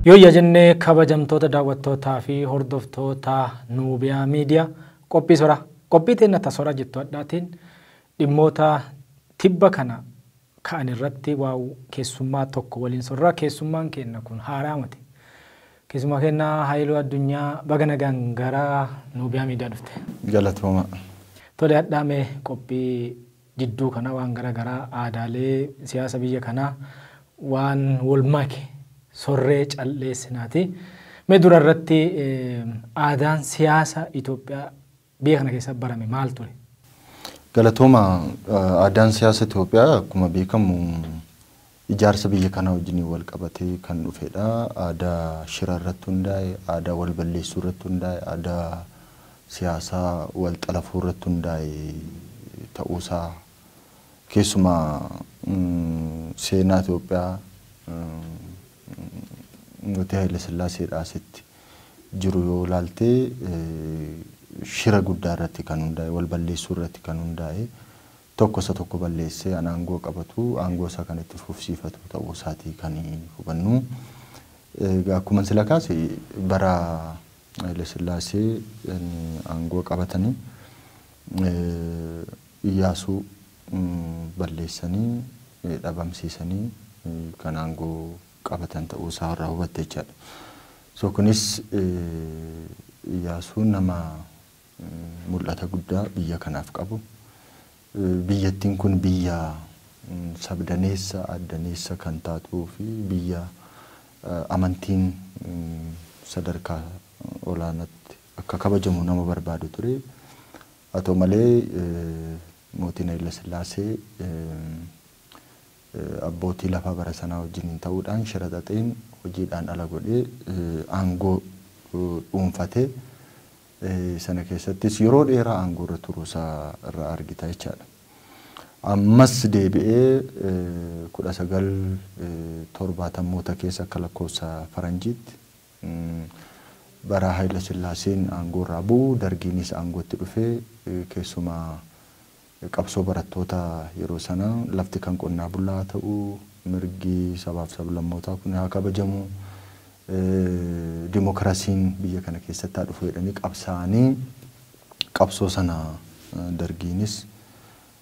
Yoo yaa jennee kabajamtoota daawwattootaa fi hordoftoota Nuubiyaa Miidiyaa qophii sora qophii teenna ta sora jettu adhaatiin Dhimmoota tibba kana ka'an irratti waaw keessummaa tokko waliin sorra. Keessummaan keenna kun haaraa moti. Keessummaa keenna Hayiluu Addunyaa baga nagaan gara Nuubiyaa Miidiyaa dhufte. Galatoomaa. Tole hadhaa mee qophii jidduu kana waan gara garaa aadaalee siyaasa biyya kanaa waan wol make sorree cal'eessinaati. Mee dura irratti aadaan siyaasa Itoophiyaa Biyya kana keessatti barame maal ture? Galatooma, Aadaan siyaasa Itoophiyaa akkuma beekamu ijaarsa biyya kanaa wajjiniin wal qabatee kan dhufedha. Aadaa shira irratti hundaa'e, aadaa wal balleessuu irratti hundaa'e, aadaa siyaasaa wal xalafuu irratti hundaa'e ta'uusaa keessumaa seenaa Itoophiyaa Mootii Hayilasillaaseedhaa asitti jiru yoo ilaalte shira guddaa irratti kan hundaa'e, wal balleessuu irratti kan hundaa'e, tokko isa tokko balleessee an aangoo qabatu, aangoo isaa kan itti fufsiifatu ta'uu isaatii kan hubannu. Egaa akkuman sila kaase bara Hayilasillaasee aangoo qabatanii Iyyaasuu balleessanii, dhabamsiisanii kan aangoo qabatan ta'uu isaa irraa hubatta jechaadha. So kunis Iyyaasuun nama mul'ata guddaa biyya kanaaf qabu, biyyattiin kun biyya sabdaneessa, aaddaneessa kan taatuu fi biyya amantiin sadarkaa olaanaatti akka kabajamu nama barbaadu ture. Haa ta'u malee, Mootiin Hayilasillaasee abbootii lafaa bara sanaa wajjiniin ta'uudhaan shira xaxeen hojiidhaan ala godhee aangoo dhuunfate. Sana keessattis yeroo dheeraa aangoorra turuusaa irraa argita jechaadha. Ammas deebi'ee 1970moota keessa akka lakkoofsa faranjiitti Bara Hayilasillaaseen aangoorraa bu'u Dargiinis aangootti dhufe. Keessumaa qabsoo barattoota yeroo sanaa lafti kan qonnaa bulaa haa ta'u, mirgi sabaaf sablammootaa kun haa kabajamu, dimokiraasiin biyya kana keessatti haa dhufu jedhanii qabsaa'anii qabsoo sana Dargiinis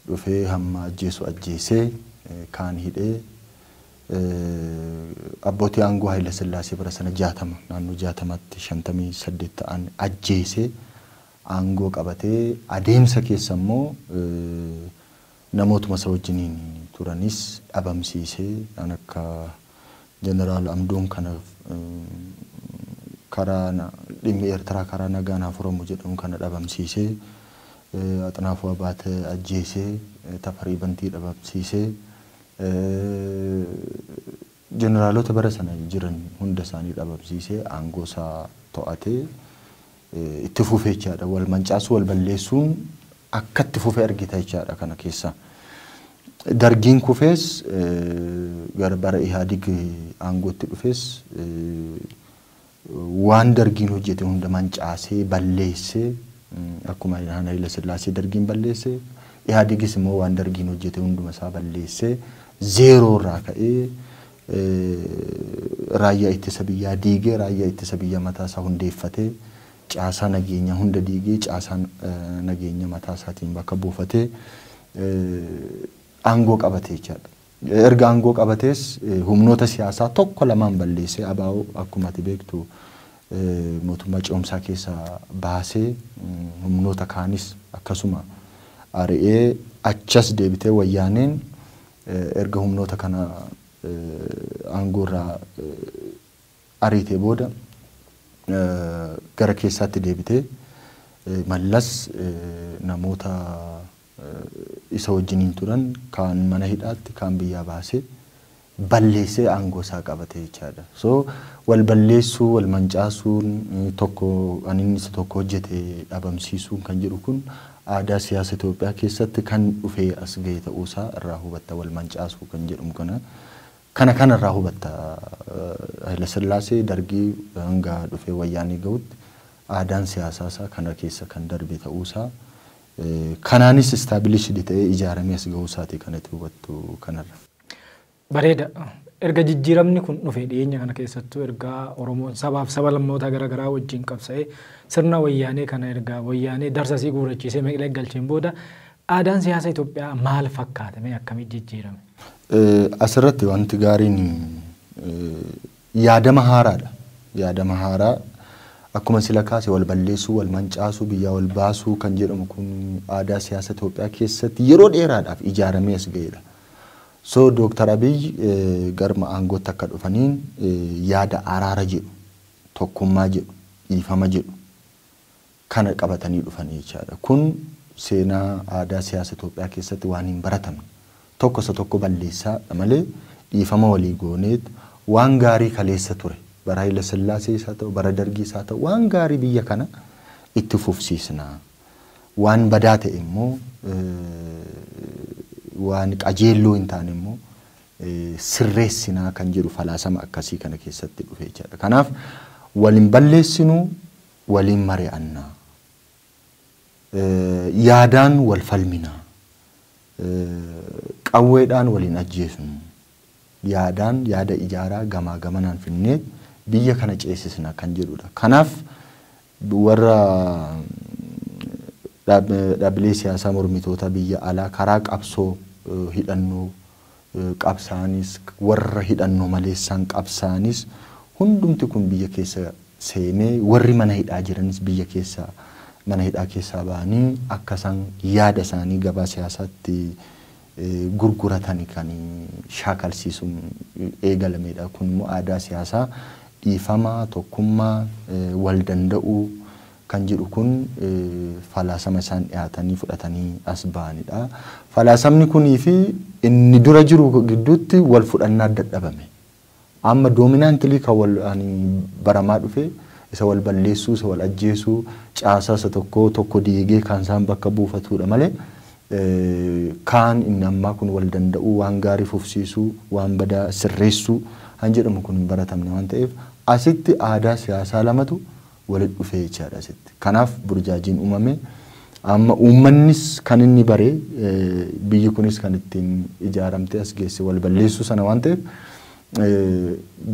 dhufee hamma ajjeesu ajjeesee kaan hidhee abbootii aangoo Hayilasillaasee bara sana 60 naannoo 60tti 58 ta'an ajjeesee aangoo qabatee adeemsa keessa immoo namootuma isa wajjiniin turanis dhabamsiisee kan akka Jeneraal Amdoom kana karaa dhimmi Eertiraa karaa nagaan haa furamu jedhuun kana dhabamsiisee, Axinaafuu Abaatee ajjeesee, Tafarii Bantii dhabamsiisee, jeneraalota bara sana jiran hunda isaanii dhabamsiisee aangoo isaa to'atee itti fufe jechaadha. Wal mancaasuu, wal balleessuun akka itti fufe argita jechaadha kana keessaa. Dargiin kufees gara bara Ihaadig aangootti dhufees waan dargiin hojjete hunda mancaasee balleessee akkuma Ilhaan Hayila Sillaasee dargiin balleesse Ihaadigis immoo waan dargiin hojjete hunduma isaa balleessee zeeroo irraa ka'ee raayyaa ittisa biyyaa diigee raayyaa ittisa biyyaa mataa isaa hundeeffatee caasaa nageenyaa hunda diigee caasaa nageenya mataa isaatiin bakka buufatee aangoo qabate jechaadha. Erga aangoo qabatees humnoota siyaasaa tokko lamaan balleessee ABO akkuma ati beektu mootummaa ce'umsaa keessaa baasee humnoota kaanis akkasuma ari'ee achas deebitee wayyaaneen erga humnoota kana aangoo irraa ariitee booda gara keessaatti deebitee Mallas namoota isa wajjiniin turan kaan mana hidhaatti kaan biyyaa baasee balleessee aangoo isaa qabate jechaadha. So wal balleessuu, wal mancaasuun, tokko kan inni isa tokko hojjete dhabamsiisuun kan jedhu kun aadaa siyaasa Itoophiyaa keessatti kan dhufee as ga'e ta'uu isaa irraa hubatta wal mancaasuu kan jedhamu kana Kana kana irraa hubatta Hayilasillaasee, Dargii hanga dhufee Wayyaanee gahutti aadaan siyaasaa isaa kana keessa kan darbe ta'uu isaa, kanaanis established ta'ee ijaaramee as gahuu isaati kan ati hubattu kana irraa. Bareeda. Erga jijjiiramni kun dhufe dhiyeenya kana keessattuu erga Oromoon sabaaf saba lammoota gara garaa wajjin qabsa'ee sirna Wayyaanee kana erga Wayyaanee darsa isii guurrachiisee meqleeq galcheen booda Aadaan siyaasa Itoophiyaa maal fakkaata? Mee akkamitti jijjiirame? Asirratti wanti gaariin yaadama haaraadha. Yaadama haaraa akkuma sila kaase wal balleessuu, wal mancaasuu, biyyaa wal baasuu kan jedhamu kun aadaa siyaasa Itoophiyaa keessatti yeroo dheeraadhaaf ijaaramee as ga'edha. So Dooktar Abiy garma aangootti akka dhufaniin yaada araara jedhu, tokkummaa jedhu, dhiifama jedhu kana qabatanii dhufanii jechaadha. Kun seenaa aadaa siyaasa Itoophiyaa keessatti waan hin baratamne. Tokko isa tokko balleessaa dha malee dhiifama walii gooneet waan gaarii kaleessa ture bara Hayila Sillaasees haa ta'u bara Dargiis haa ta'u waan gaarii biyya kana itti fufsiisna. Waan badaa ta'e immoo waan qajeelloo hin taane immoo sirreessinaa kan jedhu falaasama akkasii kana keessatti dhufe jechaadha. Kanaaf wal hin balleessinu waliin mari'anna, yaadaan wal falmina, qawweedhaan wal hin ajjeesnu, yaadaan yaada ijaaraa gamaa gamanaan fidnee biyya kana ceesisna kan jedhudha. Kanaaf warra dhaabbilee siyaasaa mormitootaa biyya alaa karaa qabsoo hidhannoo qabsaa'anis, warra hidhannoo maleessaan qabsaa'anis hundumti kun biyya keessa seenee warri mana hidhaa jiranis biyya keessa mana hidhaa keessaa ba'anii akka isaan yaada isaanii gabaa siyaasaatti gurguratani kan shaakalsiisuun eegalameedha. Kun immoo aadaa siyaasaa dhiifama, tokkummaa, wal danda'uu, kan jedhu kun falaasama isaan dhiyaatanii fudhatanii as ba'anidha. Falaasamni kunii fi inni dura jiru gidduutti wal fudhannaa dadhabame. Amma doominaantilii kan wal ani baramaa dhufe isa wal balleessuu, isa wal ajjeesuu, caasaa isa tokkoo tokko diigee kan isaan bakka buufatudha malee kaan inni ammaa kun wal danda'uu, waan gaarii fufsiisuu, waan badaa sirreessuu kan jedhamu kun hin baratamne waan ta'eef asitti aadaa siyaasaa lamatu walitti dhufee jechaadha asitti. Kanaaf burjaajiin uumame. Amma uummannis kan inni bare biyyi kunis kan ittiin ijaaramtee as geesse wal balleessuu sana waan ta'eef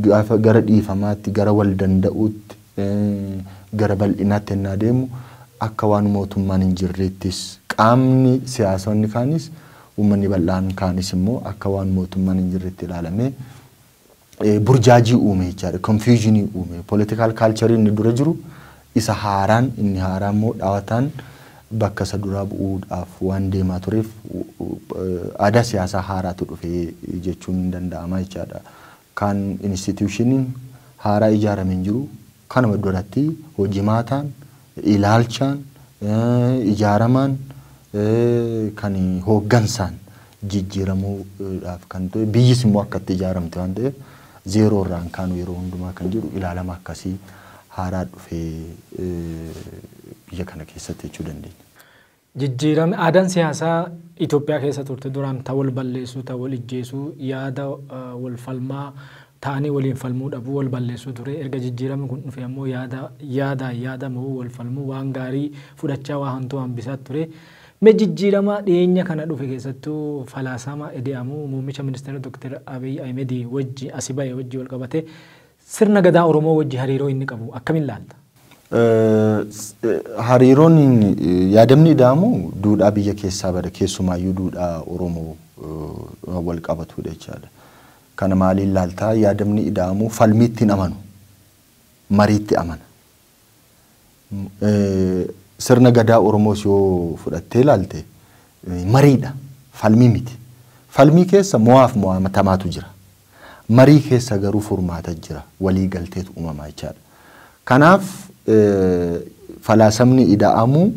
gaafa gara dhiifamaatti, gara wal danda'uutti, gara bal'inaatti ennaa deemu akka waan mootummaan hin jirreettis qaamni siyaasonni kaanis uummanni bal'aan kaanis immoo akka waan mootummaan hin jirretti ilaalamee burjaajii uume jechaadha. Confusion uume. Political culture inni dura jiru isa haaraan inni haaraa immoo dhawataan bakka isa duraa bu'uudhaaf waan deemaa tureef aadaa siyaasaa haaraatu dhufe jechuun hin danda'ama jechaadha. Kan institutioniin haaraa ijaarame hin jiru. Kanuma duratti hojimaataan ilaalchaan, ijaaramaan, kan hooggansaan jijjiiramuu dhaaf kan ta'e, biyyis immoo akka itti ijaaramte waan ta'eef zeeroo irraa hin kaanu yeroo hundumaa kan jedhu ilaalama akkasii haaraa dhufee biyya kana keessatti jechuu dandeenya. Jijjiirame aadaan siyaasaa Itoophiyaa keessa turte duraan ta wal balleessuu, ta wal ijjeesuu, yaada wal falmaa ta'anii waliin falmuu dhabuu, wal balleessuu ture. Erga jijjiirami kun dhufee ammoo yaada yaadaan yaada mo'uu, wal falmuu, waan gaarii fudhachaa waa hantuu hambisaa ture. Mee jijjiirama dhiyeenya kana dhufe keessattuu falaasama Ede'amu muummicha ministeera Dr. Abiy Ahimedii wajji asi ba'e wajji wal qabatee Sirna Gadaa Oromoo wajji hariiroo inni qabu akkamiin laalta? Hariiroon yaadamni ida'amu duudhaa biyya keessaa bada keessumaayyuu duudhaa Oromoo wal qabatudha jechaadha. Kana maaliin laalta? Yaadamni ida'amu falmiitti hin amanu. Mariitti amana. Sirna Gadaa Oromoos yoo fudhattee ilaalte mariidha. Falmii miti. Falmii keessa mo'aaf mo'atamaatu jira. Marii keessa garuu furmaata jira. Walii galteetu uumama jechaadha. Kanaaf falaasamni Ida'amuu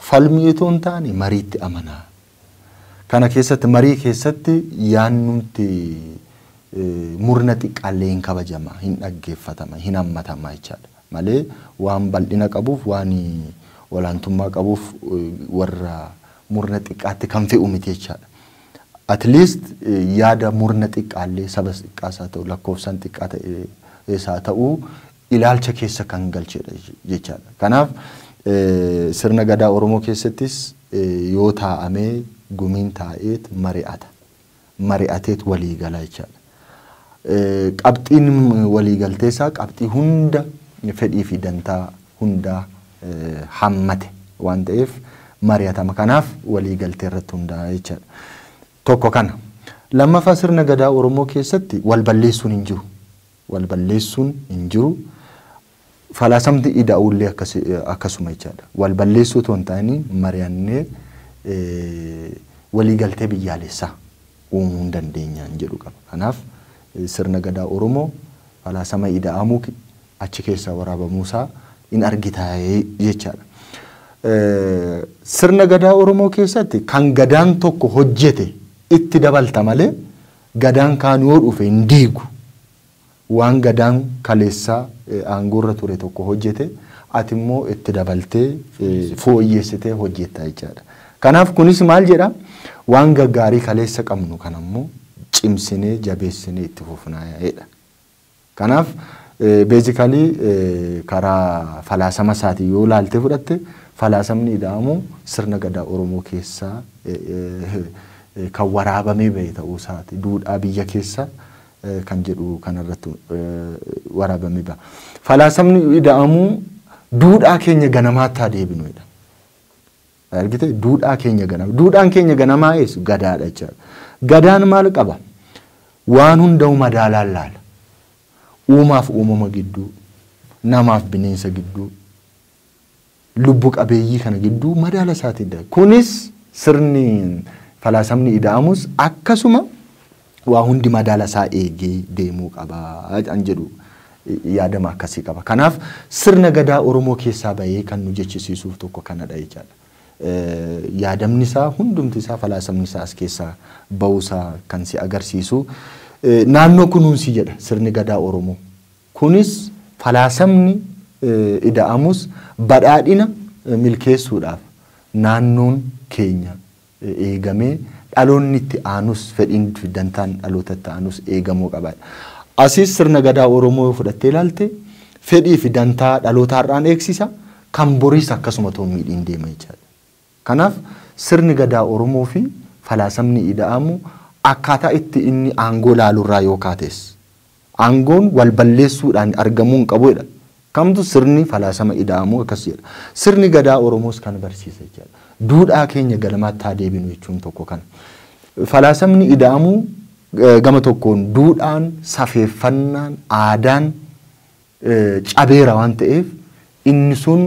falmii itoo hin taane mariitti amana. Kana keessatti marii keessatti yaannumti murna xiqqaallee hin kabajama, hin dhaggeeffatama, hin hammatama jechaadha. Malee waan bal'ina qabuuf, waan olaantummaa qabuuf warra murna xiqqaatti kan fe'u miti jechaadha. At least yaada murna xiqqaallee sabas xiqqaas haa ta'u lakkoofsaan xiqqaa ta'es haa ta'u ilaalcha keessa kan galchedha jechaadha. Kanaaf sirna Gadaa Oromoo keessattis yoo taa'amee gumiin taa'eet mari'ata. Mari'ateet walii gala jechaadha. Qabxiin walii galteesaa qabxii hunda fedhii fi dantaa hundaa hammate waan ta'eef mari'atama. Kanaaf walii galtee irratti hundaa'a jechaadha. Tokko kana. Lammaffaa sirna Gadaa Oromoo keessatti wal balleessuun hin jiru. Wal balleessuun hin jiru. Falaasamni ida'uu illee akkasuma jechaadha. Wal balleessuu otoo hin taane mari'annee walii galtee biyyaalessaa uumuu hin dandeenya jedhu qaba. Kanaaf sirna gadaa Oromoo falaasama ida'amuu achi keessaa waraabamuu isaa in argita jechaadha. Sirna gadaa Oromoo keessatti kan gadaan tokko hojjete itti dabalta malee Gadaan kaan yoo dhufe hin diigu. Waan Gadaan kaleessa aangoorra ture tokko hojjete ati immoo itti dabaltee fooyyessitee hojjetta jechaadha. Kanaaf kunis maal jedha waan gaggaarii kaleessa qabnu kana immoo cimsinee jabeessinee itti fufnaa jedha. Kanaaf basically karaa falaasama isaatiin yoo ilaaltee fudhatte falaasamni Ida'amuu sirna Gadaa Oromoo keessa kan waraabamee bahe ta'uu isaati. Duudhaa biyya keessa kan jedhu kana irratti waraabamee baha. Falaasamni Ida'amuu duudhaa keenya ganamaatti haa deebinu jedha. Argite duudhaa keenya ganama. Duudhaan keenya ganamaa eessu gadaadha jechaadha. Gadaan maal qaba? Waan hunda'u madaalaan laala. Uumaaf uumama gidduu, namaaf bineensa gidduu, lubbu qabeeyyii kana gidduu madaala isaatiin dha. Kunis sirni falaasamni ida'amus akkasuma waa hundi madaala isaa eegee deemuu qaba an jedhu yaadama akkasii qaba. Kanaaf sirna gadaa Oromoo keessaa bahee kan nu jechisiisuuf tokko kanadha jechaadha. Yaadamni isaa hundumti isaa falaasamni isaa as keessaa bahuu isaa kan si agarsiisu naannoo kunuunsi jedha sirni gadaa Oromoo. Kunis falaasamni ida'amus badhaadhina milkeessuudhaaf naannoon keenya eegamee dhaloonni itti aanus fedhiin fi dantaan dhaloota itti aanus eegamuu qaba. Asiis sirna Gadaa Oromoo yoo fudhattee ilaalte fedhii fi dantaa dhaloota har'aan eegsisa, kan boriis akkasuma otoo hin miidhiin deema jechaadha. Kanaaf sirni Gadaa Oromoo fi falaasamni Ida'amuu akkaataa itti inni aangoo ilaalu irraa yoo kaates, Aangoon wal balleessuudhaan argamuu hin qabu jedha. Kamtu sirni falaasama Ida'amuu akkas jedha. Sirni Gadaa Oromoos kana barsiisa jechaadha. Duudhaa keenya ganamaatti haa deebinu jechuun tokko kana. Falaasamni Ida'amuu gama tokkoon duudhaan, safeeffannaan, aadaan cabeera waan ta'eef inni sun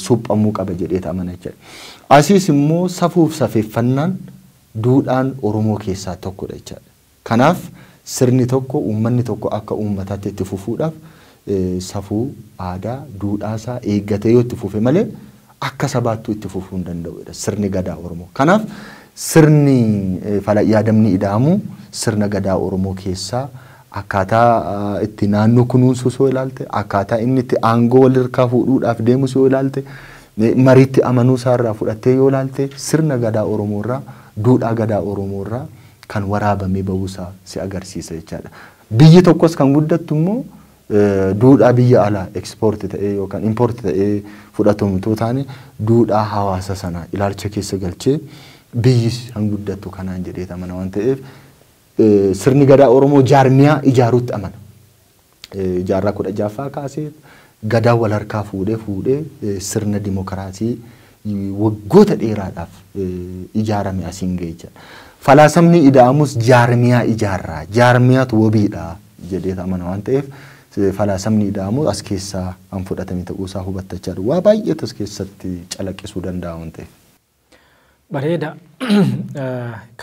suphamuu qaba jedheet amana jechaadha. Asiis immoo safuuf safeeffannaan duudhaan Oromoo keessaa tokkodha jechaadha. Kanaaf sirni tokko, uummanni tokko akka uummataatti itti fufuudhaaf safuu, aadaa, duudhaa isaa eeggatee yoo itti fufe malee akka sabaattuu itti fufuu hin danda'u jedha sirni Gadaa Oromoo. Kanaaf sirni Fala Yaadamni Ida'amuu sirna Gadaa Oromoo keessaa akkaataa itti naannoo kunuunsuus yoo ilaalte, akkaataa inni itti aangoo wal irkaa fuudhuudhaaf deemus yoo ilaalte, mariitti amanuu isaa irraa fudhattee yoo ilaalte sirna Gadaa Oromoo irraa, duudhaa Gadaa Oromoo irraa kan waraabamee ba'uu isaa si agarsiisa jechaadha. Biyyi tokkos kan guddattu immoo duudhaa biyya alaa ekspoorti ta'ee yookaan impoorti ta'ee fudhatamu utuu taane duudhaa hawaasa sanaa ilaalcha keessa galchee biyyis kan guddattu kanaan jedhee amana waan ta'eef sirni gadaa Oromoo jaarmiyaa ijaaruutti amana. jaarraa 16ffaa kaasee Gadaa wal harkaa fuudhee fuudhee sirna dimokiraasii waggoota dheeraadhaaf ijaarame asiin ga'e jechuudha. Falaasamni Ida'amus jaarmiyaa ijaarraa, jaarmiyaatu wabiidha jedhee amana waan ta'eef falaasamni Ida'amu as keessaa kan fudhatame ta'uusaa hubattachaa dhufu. Waa baay'eetu as keessatti calaqqisuu danda'a waan ta'eef. Bareeda.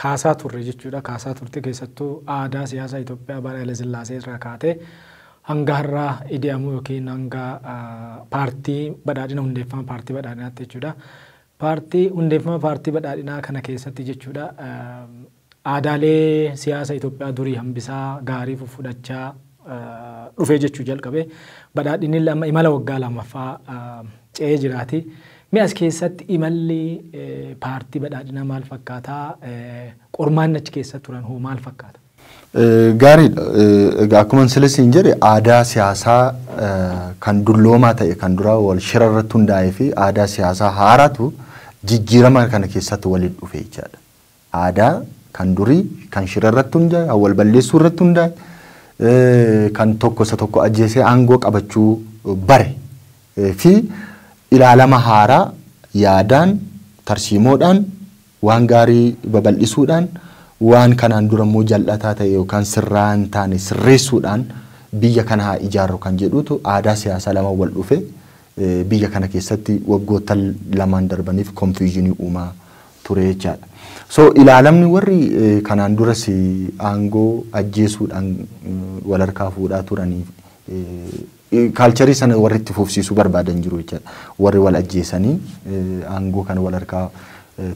Kaasaa turre jechuudha. Kaasaa turte keessattuu aadaa siyaasaa Itoophiyaa bara Hayilasillaasee irraa kaatee hanga har'a Idi'amuu yookiin hanga paartii badhaadhina hundeeffama paartii badhaadhinaatti jechuudha. Paartii hundeeffama paartii badhaadhinaa kana keessatti jechuudha Aadaalee siyaasa Itoophiyaa durii hambisaa, gaarii fuffudhachaa dhufee jechuu jalqabe. Badhaadhinnille amma imala waggaa lamaffaa ce'ee jiraati. Mee as keessatti imalli paartii badhaadhinaa maal fakkaata? Qormaanni achi keessa turan hoo maal fakkaata? Gaariidha. Egaa akkuman sila siin jedhe aadaa siyaasaa kan dulloomaa ta'e kan duraa wal shira irratti hundaa'ee fi aadaa siyaasaa haaraatu jijjiirama kana keessatti walitti dhufe jechaadha. Aadaa kan durii kan shira irratti hundaa'e, kan wal balleessuu irratti hundaa'e, eh, kan tokko isa tokko ajjeesee aangoo qabachuu bare eh, fi ilaalama haaraa yaadaan, tarsiimoodhaan, waan gaarii babal'isuudhaan, waan kanaan dura immoo jal'ataa ta'e yookaan sirraa hin taane sirreessuudhaan biyya kana haa ijaarru kan jedhutu aadaa siyaasaa lama wal dhufe biyya kana keessatti waggoottan lamaan darbaniif confusion uumaa ture jechaadha. So ilaalamni warri kanaan duras aangoo ajjeesuudhaan wal harkaa fuudhaa turanii kaalcharii sana warri itti fufsiisuu barbaadan jiru jechaadha. Warri wal ajjeesanii aangoo kana wal harkaa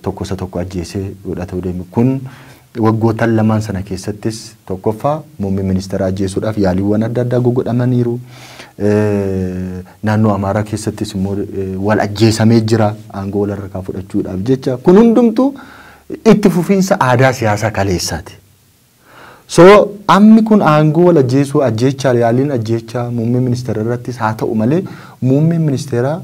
tokko isa tokko ajjeesee fudhata deemu kun Waggootan lamaan sana keessattis tokkoffaa muummee ministeeraa ajjeesuudhaaf yaaliiwwan adda addaa gogodhamaniiru. Naannoo Amaaraa keessattis immoo wal ajjeesamee jira aangoo wal harkaa fudhachuudhaaf jecha. Kun hundumtuu itti fufiinsa aadaa siyaasaa kaleessaati. So ammi kun aangoo wal ajjeesuu ajjeechaa yaaliin ajjeechaa muummee ministeera irrattis haa ta'u malee muummeen ministeeraa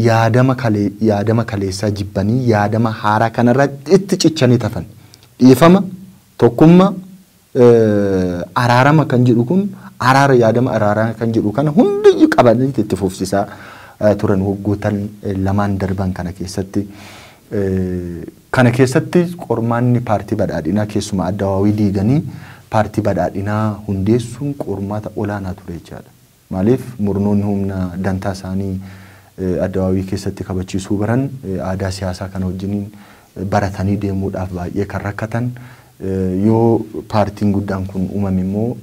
yaadama kalee yaadama kaleessaa jibbanii yaadama haaraa kanarra itti cichanii tafan. Dhiifama, tokkumma, araarama kan jedhu kun araara yaadama araaraa kan jedhu kana hundiyyu qabanii itti fufsisaa turan waggootan lamaan darban kana keessatti. Kana keessatti qormaanni paartii badhaadhinaa keessumaa addawaawii diiganii paartii badhaadhinaa hundeessuun qormaata olaanaa ture jechaadha. Maaliif murnoonni humna dantaa isaanii Addawaawii keessatti kabachiisuu baran aadaa siyaasaa kana wajjiniin baratanii deemuudhaaf baay'ee kan rakkatan, yoo paartiin guddaan kun uumame immoo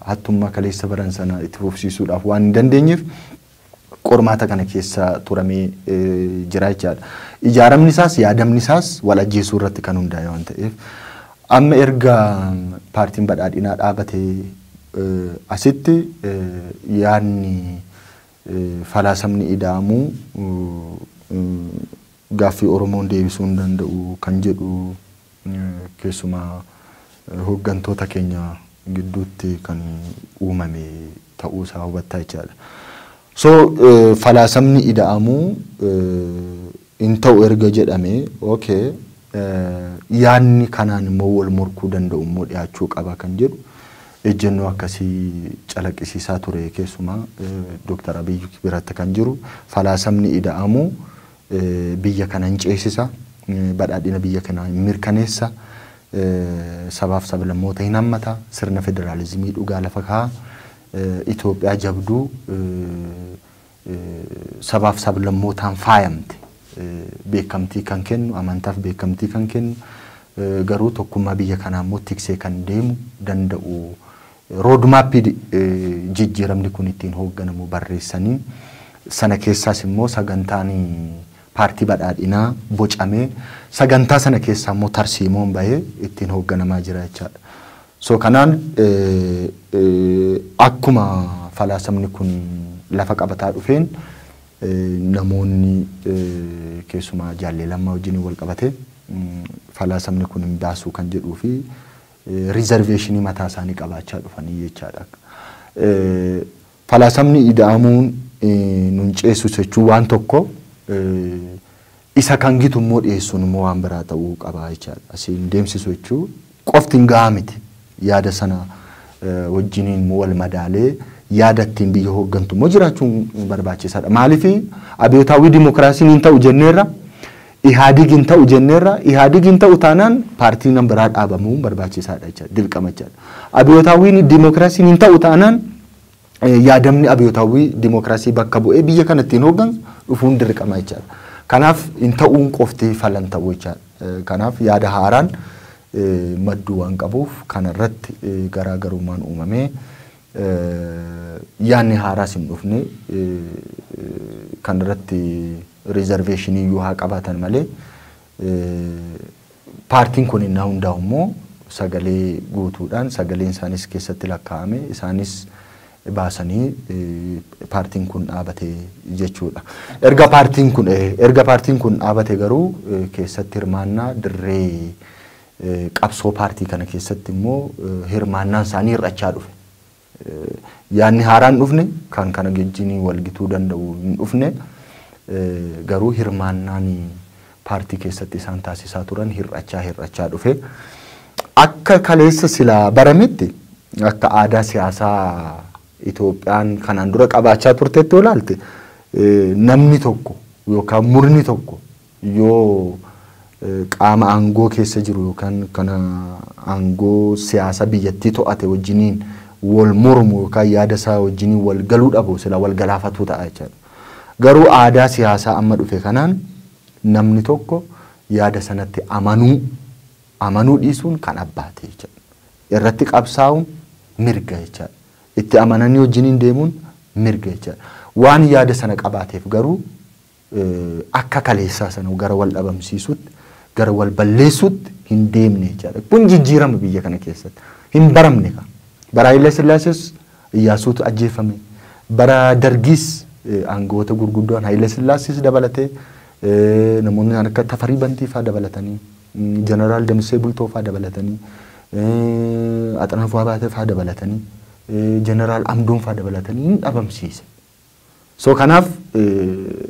hattummaa kaleessa baran sana itti fufsiisuudhaaf waan hin dandeenyeef, qormaata kana keessa turamee jira jechaadha. Ijaaramni isaas yaadamni isaas wal ajjeesuu irratti kan hundaa'e waan ta'eef amma erga paartiin badhaadhinaa dhaabatee asitti yaadni falaasamni ida'amu gaaffii Oromoon deebisuu hin danda'u kan jedhu keessumaa hoggantoota keenya gidduutti kan uumame ta'uu isaa hubattaa jechaadha. So falaasamni ida'amu hin ta'u erga jedhame okay yaadni kanaan immoo wal morkuu danda'u immoo dhiyaachuu qaba kan jedhu ejjennoo akkasii calaqqisiisaa ture keessumaa Dooktar Abiy biratti kan jiru falaasamni ida'amu biyya kana hin ceesisa, badhaadhina biyya kanaa hin mirkaneessa, sabaaf sablammoota hin hammata, sirna federaalizimii dhugaa lafa kaa'a, Itoophiyaa jabduu sabaaf sablammootaan faayamte beekamtii kan kennu, amantaaf beekamtii kan kennu, garuu tokkummaa biyya kanaa immoo tiksee kan deemu danda'u Roodmaappii jijjiiramni kun ittiin hoogganamu barreessanii, sana keessaas immoo sagantaan Paartii Badhaadhinaa bocamee, sagantaa sana keessaa immoo tarsiimoon bahee ittiin hoogganamaa jira jechaadha. So kanaan akkuma falaasamni kun lafa qabataa dhufeen namoonni keessumaa Jaallee Lammaa wajjiniin walqabatee falaasamni kun hin baasuu kan jedhuu fi riizarveeshinii mataa isaanii qabaachaa dhufanii jechaadha. Falaasamni ida'amuun nun ceessu jechuun waan tokko isa kan gitu immoo dhiyeessuun immoo waan biraa ta'uu qaba jechaadha. Asiin deemsisu jechuun qofti hin gahaa miti. Yaada sana wajjiniin immoo wal madaalee yaada ittiin biyya hooggantu immoo jiraachuun barbaachisaadha. Maaliif abiyootaawwii dimookiraasiin hin ta'u jenneerra Ihaadig hin ta'u jenneerra. Ihaadig hin ta'u taanaan paartiinan biraa dhaabamuun barbaachisaadha jechaadha. Dirqama jechaadha. Abiyootaawwiin dimokiraasiin hin ta'u taanaan yaadamni abiyootaawwii dimokiraasii bakka bu'ee biyya kana ittiin hooggansu dhufuun dirqama jechaadha. Kanaaf hin ta'uun qofti fala hin ta'u jechaadha. Kanaaf yaada haaraan madduu waan qabuuf kanarratti garaagarummaan uumamee Yaadni haaraas hin dhufne. Kan irratti riizarveeshinii iyyuu haa qabaatan malee paartiin kun innaa hundaa'u immoo sagalee guutuudhaan sagaleen isaaniis keessatti lakkaa'ame isaanis baasanii paartiin kun dhaabate jechuudha. Erga paartiin kun erga paartiin kun dhaabate garuu keessatti hirmaannaa dirree Qabsoo paartii kana keessatti immoo hirmaannaan isaanii hir'achaa dhufe. Yaadni haaraan dhufne kan kana wajjin walgituu danda'u hin dhufne garuu hirmaannaan paartii keessatti isaan taasisaa turan hir'achaa hir'achaa dhufe. Akka kaleessa silaa barametti akka aadaa siyaasaa Itoophiyaan kanaan dura qabaachaa turtetti yoo ilaalte namni tokko yookaan murni tokko Yoo qaama aangoo keessa jiru yookaan kan aangoo siyaasa biyyattii to'ate wajjiniin wal mormu yookaan yaada isaa wajjiniin wal galuu dhabu silaa wal galaafatuu ta'a jechaadha. Garuu aadaa siyaasaa amma dhufe kanaan namni tokko yaada sanatti amanuu amanuu dhiisuun kan abbaati jechaadha. Irratti qabsaa'uun mirga jechaadha. Itti amananii wajjiniin deemuun mirga jechaadha. Waan yaada sana qabaateef garuu akka kaleessaa sana gara wal dhabamsiisuutti, gara wal balleessuutti hin deemne jechaadha. Kun jijjiirama biyya kana keessatti. Hin baramne kaa. Bara Hayila Sillaasees Iyyaasuutu ajjeefame. Bara Dargiis aangawoota gurguddoon Hayila Sillaasees dabalatee namoonni akka Tafarii Bantii faa dabalatanii, Jeneraal Damissee Bultoo faa dabalatanii, Axanafuu Abaatee faa dabalatanii, Jeneraal Amdoon faa dabalatanii hin dhabamsiise. So kanaaf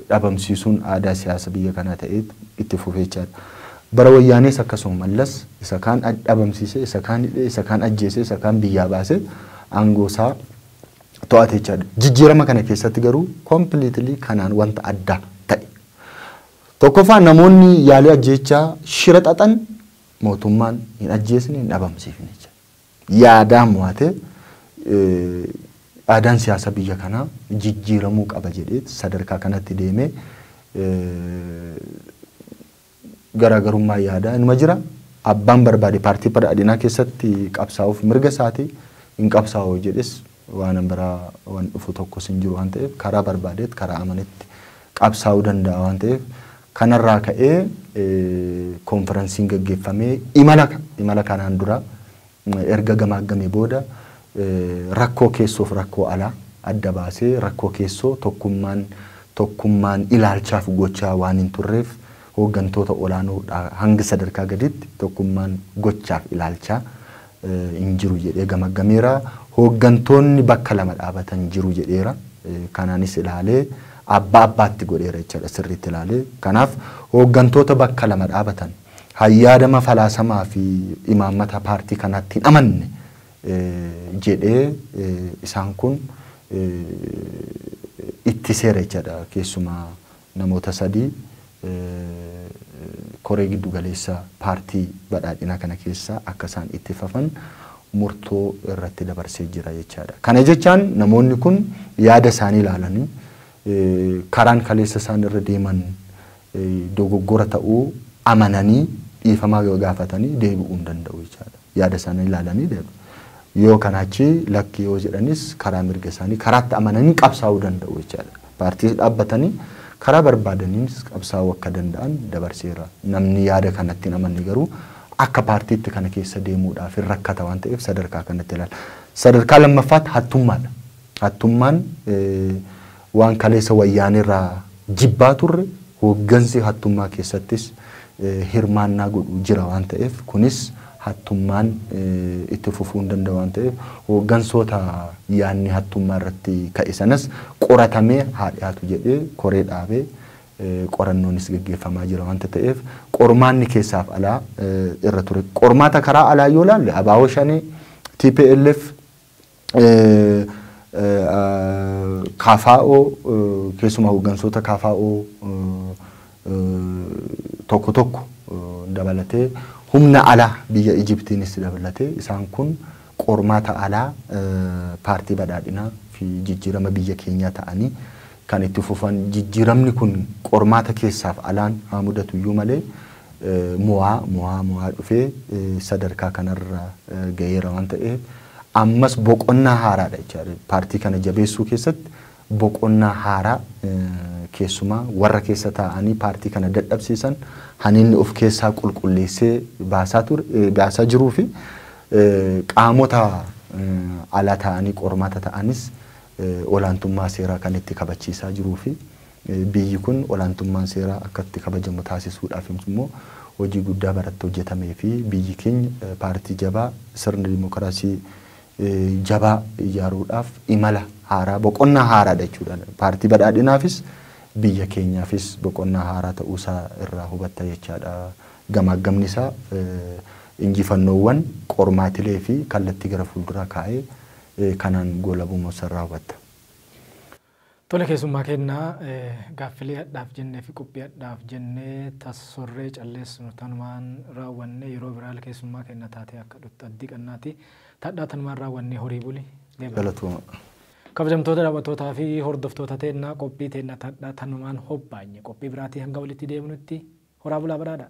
dhabamsiisuun aadaa siyaasa biyya kanaa ta'eet itti fufee jechaadha. Bara wayyaanees akkasuma Mallas isa kaan dhabamsiisee, isa kaan hidhee, isa kaan ajjeesee, isa kaan biyyaa baasee aangoo isaa to'ate jechaadha. Jijjiirama kana keessatti garuu completely kanaan wanta addaa ta'e. Tokkoffaa namoonni yaalii ajjeechaa shira xaxan mootummaan hin ajjeesne, hin dhabamsiifne jechaadha. yaadaan mo'ate aadaan siyaasa biyya kanaa jijjiiramuu qaba jedhee sadarkaa kanatti deemee garaagarummaa yaadaa inuma jira. Abbaan barbaade paartii badhaadhinaa keessatti qabsaa'uuf mirga isaati hin qabsaa'u jedhes Waanan biraa wan dhufu tokkos hin jiru waan ta'eef karaa barbaadeetti karaa amanetti qabsaa'uu danda'a waan ta'eef kanarraa ka'ee konfiransiin gaggeeffamee imala imala kanaan dura erga gamaaggamee booda rakkoo keessoof rakkoo alaa adda baasee rakkoo keessoo tokkummaan tokkummaan ilaalchaaf gochaa waan hin turreef hooggantoota olaanoo dhaa hanga sadarkaa gadiitti tokkummaan gochaaf ilaalchaa hin jiru jedhee gamaggameera. Hooggantoonni bakka lama dhaabatan jiru jedheera. Kanaanis ilaalee abbaa abbaatti godheera jechaadha sirriitti ilaalee. Kanaaf hooggantoota bakka lama dhaabatan hayyaadama falaasamaa fi imaammata paartii kanaatti hin amanne jedhee isaan kun ittiseera jechaadha keessumaa Namoota sadii koree giddu galeessa paartii badhaadhinaa kana keessaa akka isaan itti fafan murtoo irratti dabarsee jira jechaadha. Kana jechaan namoonni kun yaada isaanii ilaalanii karaan kaleessa isaan irra deeman dogoggora ta'uu amananii dhiifama yoo gaafatanii deebi'uu hin danda'u jechaadha. yaada isaanii ilaalanii deemu. Yoo kanaa achi lakki yoo jedhanis karaa mirga isaanii karaatti amananii qabsaa'uu danda'u jechaadha. Paartiis dhaabbatanii karaa barbaadaniinis qabsaa'uu akka danda'an dabarseera. Namni yaada kanatti hin amanne garuu akka paartiitti kana keessa deemuudhaaf hin rakkata waan ta'eef sadarkaa kanatti ilaala. Sadarkaa lammaffaatti hattummaadha. Hattummaan Waan kaleessa Wayyaaneerraa jibbaa turre hooggansi hattummaa keessattis hirmaannaa godhu jira waan ta'eef kunis hattummaan itti fufuu hin danda'u waan ta'eef hooggansoota yaadni hattummaa irratti ka'e sanas qoratamee haa dhiyaatu jedhee koree dhaabee qorannoonis geggeeffamaa jira waanta ta'eef qormaanni keessaaf alaa irra ture. Qormaata karaa alaa yoo ilaalle Abaawoo Shanee, tplf, KFO keessumaa hooggansoota KFO tokko tokko dabalatee humna alaa biyya Ijiptiinis dabalatee isaan kun qormaata alaa paartii badhaadhinaa fi jijjiirama biyya keenyaa ta'anii kan itti fufan. Jijjiiramni kun qormaata keessaaf alaan haa mudatuyyuu malee mo'aa mo'aa mo'aa dhufee sadarkaa kanarra gaheera waan ta'eef ammas boqonnaa haaraadha jechaadha. Paartii kana jabeessuu keessatti boqonnaa haaraa keessumaa warra keessa taa'anii paartii kana dadhabsiisan haninni of keessaa qulqulleessee baasaa ture baasaa jiruu fi qaamota alaa taa'anii qormaata ta'anis olaantummaa seeraa kan itti kabachiisaa jiruu fi biyyi kun olaantummaan seeraa akka itti kabajamu taasisuudhaaf immoo hojii guddaa baratti hojjetamee fi biyyi keenya paartii jabaa sirna dimokiraasii jabaa ijaaruudhaaf imala haaraa boqonnaa haaraadha jechuudha. Paartii badhaadhinaafis biyya keenyaafis boqonnaa haaraa ta'uusaa irraa hubatta jechaadha. Gamaaggamni isaa injifannoowwan, qormaatilee fi kallattii gara fuulduraa kaa'ee kanaan goolabumuu isarraa hubatta. Tole keessummaa keenna gaaffilee hadhaaf jennee fi qophii hadhaaf jennee tassorree calleessinu tanumaan raawwannee yeroo biraal keessummaa keenna taatee akka dhuttu abdii qannaati. Tadhaa tanumaan raawwannee horii buli. Galatooma. Kabajamtoota daawwattootaa fi hordoftoota teenna qophii teenna tadhaa tanumaan hobbaanye qophii biraatii hanga walitti deebinutti horaa bulaa badhaadhaa.